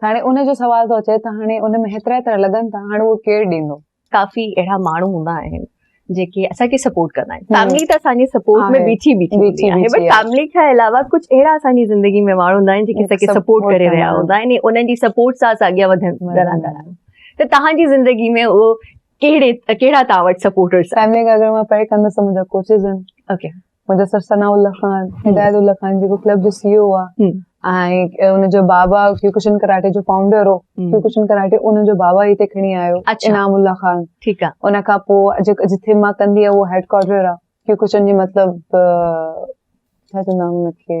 ته هاڻي ان جو سوال ٿو اچي ته هاڻي ان ۾ هيترا هيترا لڳن ٿا هاڻي اهو ڪير ڏيندو ڪافي اهڙا ماڻهو هوندا آهن جيڪي اسان کي سپورٽ ڪندا آهن فيملي ته اسان جي سپورٽ ۾ بيٺي بيٺي هوندي آهي بٽ فيملي کان علاوه ڪجهه اهڙا اسان جي زندگي ۾ ماڻهو هوندا آهن جيڪي اسان کي سپورٽ ڪري رهيا هوندا آهن ۽ انهن جي سپورٽ سان اسان اڳيان وڌندا رهندا آهيون ته تهان جي زندگي ۾ اهو ڪهڙي ڪهڙا تهان وٽ سپورٽرز آهن فيملي کي اگر مان پري ڪندس ته منهنجا ڪوچز آهن اوڪي منهنجو سر ثناء الله خان هدايت الله خان جيڪو ڪلب جو سي او آهي ۽ ان جو بابا ڪيوڪشن ڪراٽي جو فائونڊر هو ڪيوڪشن ڪراٽي ان جو بابا هتي کڻي آيو انعام الله خان ٺيڪ آهي ان کان پوء جيڪو جتي مان ڪندي آهي اهو هيڊ ڪوارٽر آهي ڪيوڪشن جي مطلب ڇا چوندا ان کي